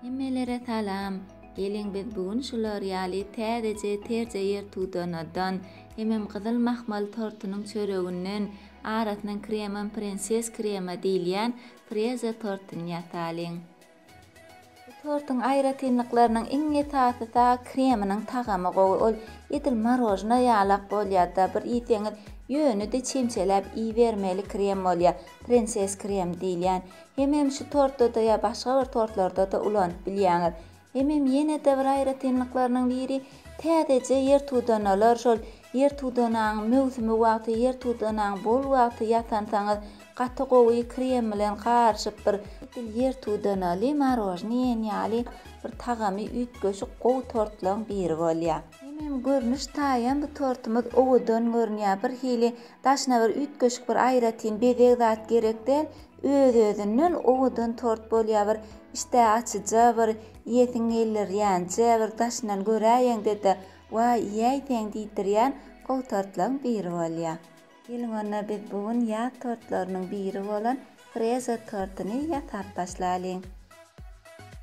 Hemmelere salam! Geliň biz bu gün şular ýaly täzeje terje ýer tudanadan, hemem gyzyl mahmal tortunyň çöreginden, arasynyň kremam prenses krema diýilýän freza tortuny ýasalyň. Bu tortuň aýratynlyklarynyň iň esasysy-a kreminiň tagamy gowy, ol edil marojna ýalak bolýar-da, bir iýseňiz ýöne-de çemçeläp iýibermeli krem bolýar, prenses krem diýilýän. Hemem şu tortda-da ýa başga bir tortlarda-da ulanyp bilýäňiz. Hemem ýene-de bir aýratynlyklarynyň biri, täzeje ýer tudanalar şol ýer tudanaň möwsümi wagty, ýer tudanaň bol wagty ýasansaňyz, gaty gowy krem bilen garyşyp bir, edil ýer tudanaly marojny iýen ýaly bir tagamy üýtgeşik gowy tortlaryň biri bolýar. Hemem görnüş taýam bu tortumyz owadan görünýär, birhili daşyna bir üýtgeşik bir aýratyn bezeg zat gerek däl, Öz-özünden owadan tort bolýar, bir işdä açyja, bir iýesiň geldirýänje, bir daşyndan göräýeňde-de, Waý, iýäýseň diýdirýän gowy tortlaryň biri bolýar. Geliň onda biz bu gün ýaz tortlarynyň biri bolan freza tortuny ýasap başlalyň.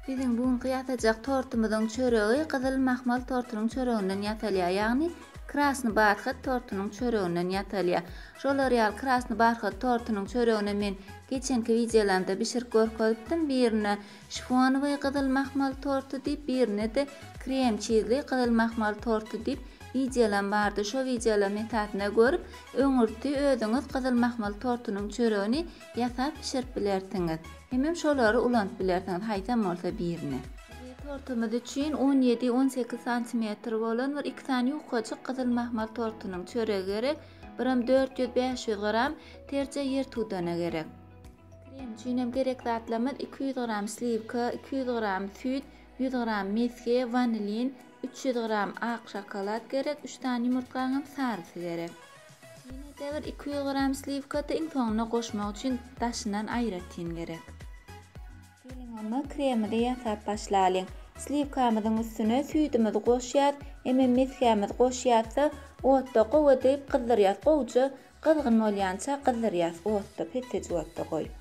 Biziň bu günki ýasajak tortumyzyň çöregi gyzyl mahmal tortunyň çöreginden ýasalýar, ýagny krasny barhat tortunyň çöreginden ýasalýar. Şolar ýaly krasny barhat tortunyň çöregini men geçenki wideolarimde bişirip görkezipdim, birine şifonowy gyzyl mahmal torty diýip, birine-de krem çizli gyzyl mahmal torty diýip wideolarim bardy. Şo wideolaryň esasynda görüp, öňürti özüňiz gyzyl mahmal tortunyň çöregini Ýasap bişirip bilersiňiz. Hemem şolary ulanyp bilersiňiz haýsam bolsa birini. Biziň tortumyz üçin on ýedi, on sekiz santimetr bolan bir iki sany ýukajyk gyzyl mahmal tortunyň çöregi gerek, birem dört ýüz, bäş ýüz gram terje ýer tudana gerek. Krem üçinem gerek zatlarymyz iki ýüz gram sliwka, iki ýüz gram süýt, ýüz gram mesge, wanilin, üç ýüz gram ak şokolad gerek, üç sany ýumurtgaňam sarysy gerek. Ýene-de bir iki ýüz gram sliwkaty iň soňuna goşmak üçin daşyndan aýratyn gerek. Geliň onda kremidi ýasap başlalyň. Sliwkamyzyň üstüne süýdümizi goşýas, emem mesgämiz goşýasda otda gowy edip gyzdyrýas, gowja gyzgyn bolýança gyzdyrýas otda, pesseji otda goýup.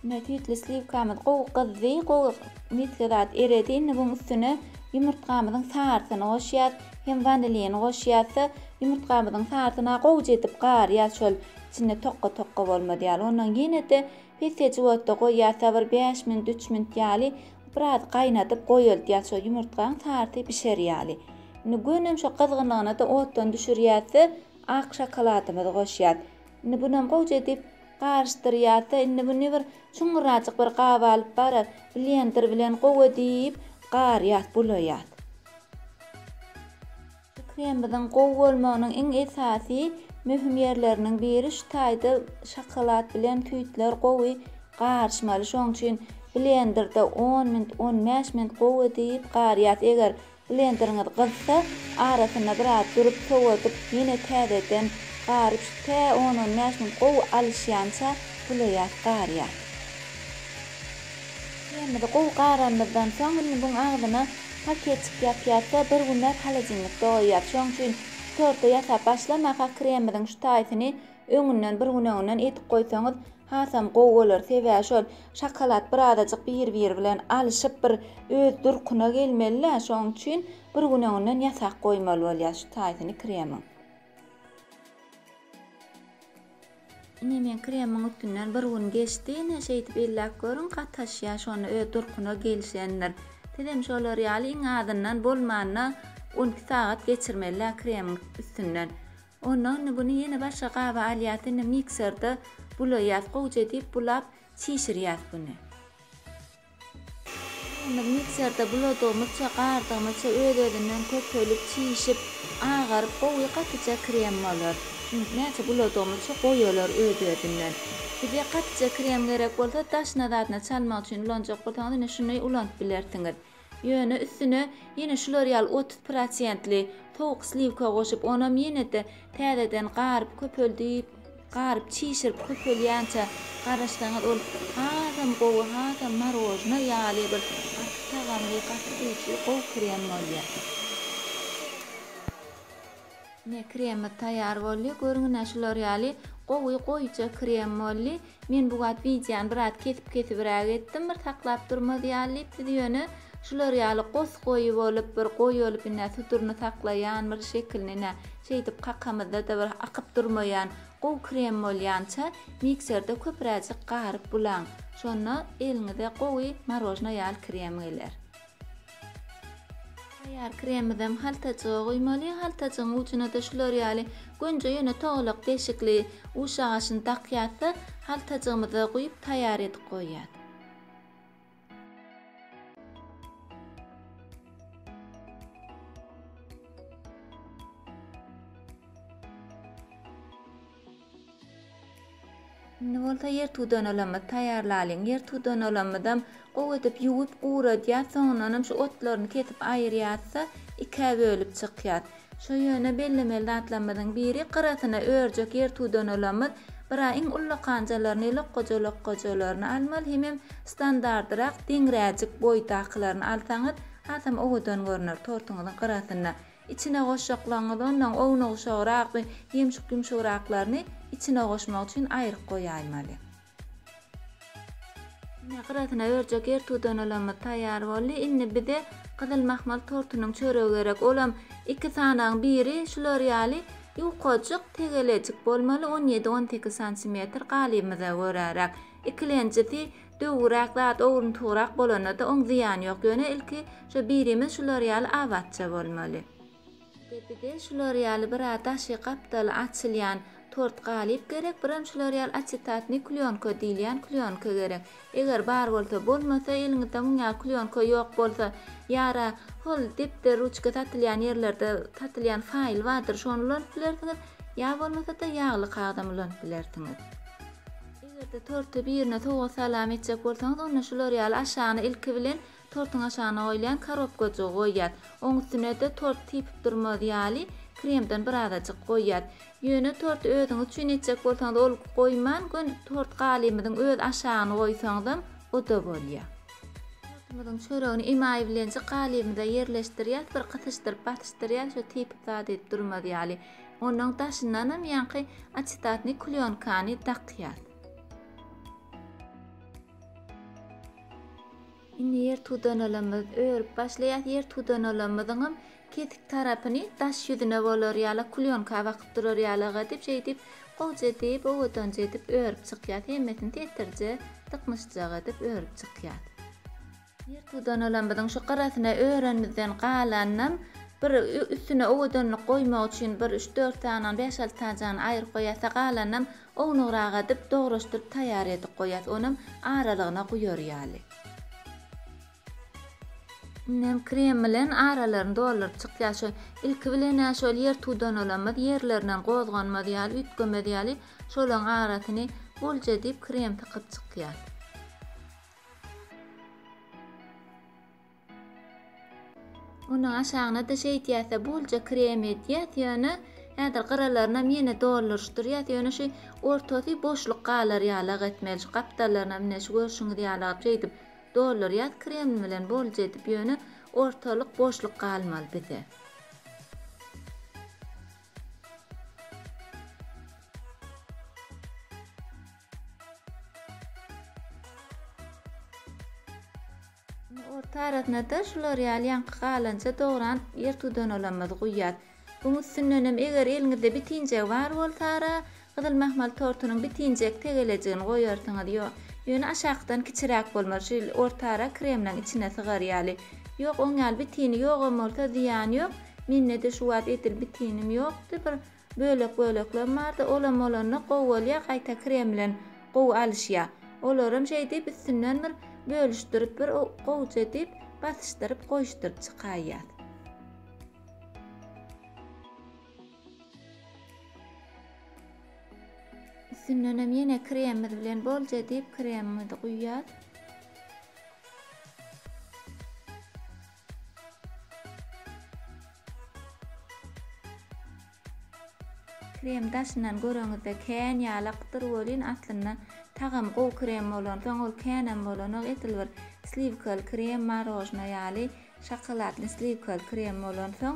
Süýtli sliwkamyz gowy gyzdy, gowy misge zat eredi. Indi buň üstüne ýumurtgamyzyň sarysyny goşýas. Hem wanilini goşýas-da, ýumurtgamyzyň sarysyna gowja edip garýas şol içinde tokga-tokga bolmaz ýaly. Ondan ýene-de pesejik otda goýýas-da bir bäş minut, üç minut ýaly biraz gaýnadyp goýaltýas şo ýumurtgaň sarysy bişer ýaly. Indi gönem şo gyzgynlygyna-da otdan düşürýäs-de, Ak şokoladymyzy goşýas. Indi bunam gowja edip garyşdyrýas-da, indi muny bir çuňňurajyk bir gaba alyp baryp, blender bilen gowy edip garýas, bulaýas. Şu kremimiziň gowy bolmagynyň iň esasy möhüm ýerleriniň biri şu taýda şokolad bilen süýtler gowy garyşmaly. Şonuň üçin blenderde on minut, on bäş minut gowy edip garýas. Eger Blenderiňiz gyzsa, arasynda biraz durup sowadyp, ýene täzeden garyp şu tä on-on bäş minut gowy alyşýança bulaýas garýas. Kremimizi gowy garanymyzdan soň, indi muň agzyna paketçik ýapýas-da, bir günläp holodilnikde goýýas. Şoň üçin torty ýasap başlamaka kremimiziň şu taýsyny Öňünden bir gün öňünden edip goýsaňyz hasam gowy bolar sebäbi şol şokolad bir azajyk bir biri bilen alyşyp bir öz durkuna gelmelidä şoň üçin bir gün öňünden ýasap goýmaly bolýar şu taýsyny kremiň. Ine men kremiň üstünden bir gün geçdi ine şeýdip elläp görüň gataşýar şonda öz durkuna gelişendir. Sizem şolar ýaly iň azyndan bolmanda on iki sagat geçirmelidä kremiň üstünden. Onda indi buny ýene başga gaba alýas indi mikserde bulaýas gowja diýip bulap çişirýas buny. Indi mikserde buladygymyzça gardygymyzça öz özünden köpelip çişip agaryp gowy gatyja krem bolar. Indi näçe buladygymyzça goýalar öz özünden. Size gatyja krem gerek bolsa daşyna zadyna çalmak üçin ulanjak bolsaňyz indi şuny ulanyp bilersiňiz. Ýöne üstüne ýene şular ýaly otuz prosentli sowuk sliwka goşup, onam ýene-de täzeden garyp köpeldip, garyp çişirip köpelýänçä garaşsaňyz ol hasam gowy, hasam marojna ýaly bir gaty tagamly, gaty süýji, gowy krem bolýar. Ine kremimiz taýýar boldy. Görüňine şular ýaly gowy goýuja krem boldy. Men bu wagt wideony biraz kesip kesibiräk etdim bir saklap durmaz ýaly diýip siz ýöne şular ýaly gos goýy bolup bir goýy bolup ine suduryny saklaýan bir şekilini ine şeýdip kakamyzda-da bir akyp durmaýan gowy krem bolýança mikserde köpüräjik garyp bulaň şonda eliňize gowy marojna ýaly krem geler. Taýýar kremimizem haltajyga guýmaly, haltajygyň ujuna-da şular ýaly gönje ýöne togalak deşikli uş agaçyny dakýas-da, haltajygymyza guýup taýýar edip goýýas. Indi bolsa ýer tudanalymyzy taýýarlalyň. Ýer tudanalymyzam gowy edip ýuwup guradýas, soňundanam şu otlaryny kesip aýyrýasda ikä bölüp çykýas. Şo ýöne bellemeli zatlarymyzyň biri gyrasyna örjek ýer tudanalymyz bira iň ullakanjalaryny lokgaja lokgajalaryny almaly hemem standardyrak deňräjik boýdakylaryny alsaňyz hasam owadan görner tortuňyzyň gyrasynda Içine goşjaklaryňyzy ondan ownugşagrak we ýumşuk-ýumşugraklaryny içine goşmak üçin aýryk goýaýmaly. Ine, gyrasyna örjek ertudanalymyz taýýar boldy. Indi bize gyzyl mahmal tortunyň çöregi gerek. Olam iki sanagyň biri şular ýaly ýukajyk, tegelejik bolmaly, on ýedi-on sekiz santimetr, galybymyza göräräk. Ikilenjisi Döwüräk zat owruntygrak bolanda-da oň zyýany ýok. Ýöne ilki şo birimiz şular ýaly abatça bolmaly. Gepide şular ýaly bir a daşy gapdaly açylýan tort galyp gerek, biram şular ýaly açitatnyý klýonka diýilýän klýonka gerek. Eger bar bolsa, bolmasa, eliňizde muň ýaly klýonka ýok bolsa, ýara hol depder, ruçka satylýan ýerlerde satylýan faýl bardyr, şony ulanyp bilersiňiz, ýa bolmasa-da ýagly kagzam ulanyp bilersiňiz. Eger-de torty birine sowgat salam etjek bolsaňyz, onda şular ýaly aşagyna ilki bilen tortuň aşagyna goýulýan korobkajygy goýýas. Oň üstüne-de tort sypyp durmaz ýaly kremden birazajyk goýýas. Ýöne torty özüňiz üçin etjek bolsaňyz ol goýman gön tort galymyzyň öz aşagyny goýsaňyzam o-da bolýar. Tortumyzyň çöregini emaý bilenjik galymyza ýerleşdirýäs, bir gysyşdyryp basyşdyrýas, şo sypyp zat edip durmaz ýaly. Onuň daşyndanam ýaňky açetatny klýonkany dakýas. Indi ýer tudanalymyz örüp başlaýas. Ýer tudanalymyzyňam kesik tarapyny daş ýüzüne bolar ýala klýonka bakyp durar ýalaga edip şeýdip gowja edip owadanja edip örüp çykýas. Hemmesini setirje dyknyşjak edip örüp çykýas. Ýer tudanalammyzyň şu gyrasyna öränimizden galanynam bir üstüne owadanlyk goýmak üçin bir üç-dört sanyny, bäş-alty sanjygyny aýryp goýasda galanynam ownugrak adyp, dograşdyryp taýýar edip goýas. Onam aralygyna guýar ýaly. Indem krem bilen aralaryny dolduryp çykýas. Şu ilki bilen-ä şol ýer tudanalammyz ýerlerinden gozganmaz ýaly, üýtgemez ýaly şolaryň arasyny bolja edip krem sykyp çykýas. Onuň aşagyna-da şeýdýäs-de, bolja krem edýäs, ýöne häzir gyralaryna ýene dolduryşdyrýas, ýöne şu ortasy boşluk galar ýalag etmeli, şu gapdallarynam ine şu görşüňiz ýalak şeýdip doldurýas krem bilen bolja edip, ýöne ortalyk boşluk galmaly bize. Orta arasyna-da şular ýaly ýaňky galanja dogran ýer tudanolymyzy guýýas. Buň üstündenem eger eliňizde bitinjegi bar bolsara, gyzyl mahmal tortunyň bitinjek tegelejigini goýarsyňyz. Ýöne aşakydan kiçiräk bolmaly, şu orta ara kremleň içine sygar ýaly. Ýok, oň ýaly bitini ýogam bolsa zyýany ýok. Mende-de şu wagt edil bitinim ýokdy, bir Bölek böleklem bardy olam bolanda gowy bolýa gaýta krem bilen gowy alyşýa olaram şeýdip üstünden bir bölüşdirip bir gowja edip basyşdyryp goýuşdyryp çykaýýas. Üstündenem ýene kremimiz bilen bolja edip kremimizi guýýas. Krem daşyndan göreňizde kän ýalakdyr welin aslynda tagamy gowy krem bolansoň ol känem bolanok edil bir sliwkaly krem marožno ýaly şokoladny sliwkaly krem bolansoň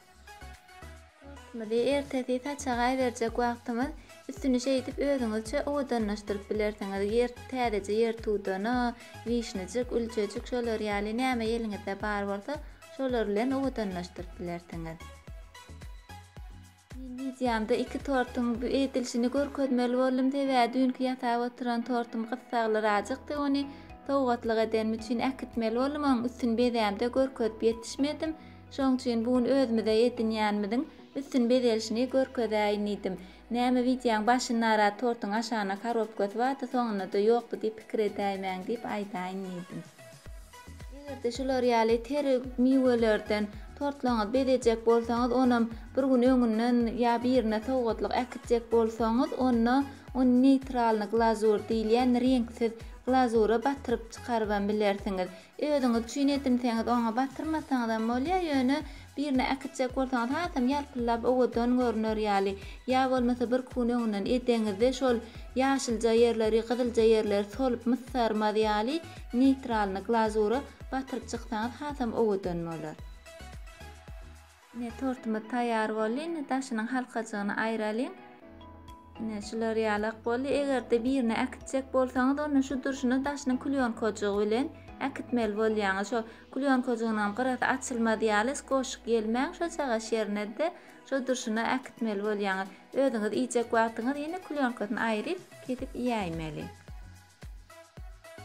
Ýurtmyzy ertesi saçagaý berjek wagtymyz, üstüni şeýdip özüňizçe owadanlaşdyryp bilersiňiz, ýer, täzeje ýer tudana, wişnijik, ülçejik şolar ýaly näme eliňizde bar bolsa, şolar bilen owadanlaşdyryp bilersiňiz. Men wideomda iki tortuň edilişini görkezmeli boldum, sebäbi düýnki ýasap oturan tortum gyssaglyraajykdy, ony sowgatlyk edenim üçin äkitmeli boldum, onuň üstüni bezämde görkezip ýetişmedim, Şoň üçin bu gün özümize edinýänimiziň üstün bezelişini görkezäýin diýdim. Näme wideoň başyndarak tortuň aşagyna korobkasy bardy, soňunda-da ýokdy diýip pikir edäýmäň diýip aýdaýyn diýdim. Eger-de şular ýaly teri miwelerden tortlaryňyzy bezejek bolsaňyz, onam bir gün öňünden ýa birine sowgatlyk äkitjek bolsaňyz, onda ony neýtralnyý glazur diýilýän reňksiz glazura batyryp çykarybam bilersiňiz. Özüňiz üçin edinseňiz, oňa batyrmasaňyzam bolýar, ýöne birine äkitjek bolsaňyz hasam ýalpyldap owadan görner ýaly, ýa bolmasa birki gün öňünden edeňizde şol ýaşylja ýerleri, gyzylja ýerleri solup mysarmaz ýaly neýtralyny glazura batyryp çyksaňyz hasam owadan bolar. Ine, tortumyz taýýar boldy. Indi daşynyň halkajygyny aýralyň. Ine, şular ýalak boldy. Eger-de birine äkitjek bolsaňyz, onda şu durşuna daşynyň klýonkajygy bilen äkitmeli bolýaňyz. Şo klýonkajygynyňam gyrasy açylmaz ýaly skoşik ýelmäň, şo çagaş ýerine-de şo durşuna äkitmeli bolýaňyz. Özüňiz iýjek wagtyňyz ýene klýonkasyny aýryp, kesip iýäýmeli.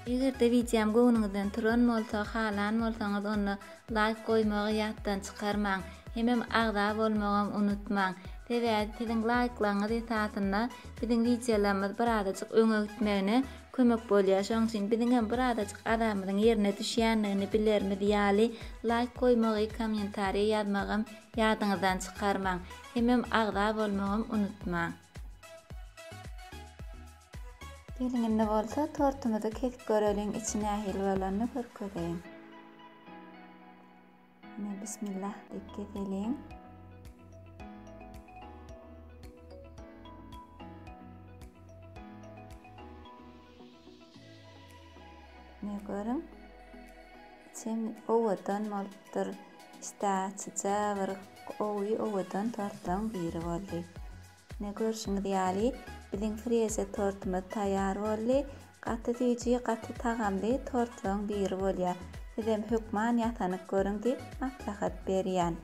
Eger-de wideom göwnüňizden turan bolsa, halan bolsaňyz onda laýk goýmagy ýatdan çykarmaň. Hemem agza bolmagam unutmaň. Sebäbi siziň laýklaryňyz esasynda biziň wideolarymyz birazajyk öňe gitmegine kömek bolýar. Şonuň üçin biziňem birazajyk azamyzyň ýerine düşýändigini bilerimiz ýaly laýk goýmagy, kommentariýa ýazmagam ýadyňyzdan çykarmaň. Hemem agza bolmagam unutmaň. Geliň indi bolsa tortumyzy kesip göreliň içi nähili bolanyny görkezeýin. Ine bismillah diýip keseliň. Ne görüň. Içim owadan bolupdyr. Işdäçija bir owy owadan tortlaryň biri boldy. Ine görşüňiz ýaly biziň freže tortumyz taýýar boldy. Gaty süýji, gaty tagamly tortlaryň biri bolýar. Sizem hökman ýasanyp görüň diýip maslahat berýän.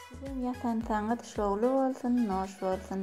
Sizem ýasansaňyz şowly bolsun, noş bolsun.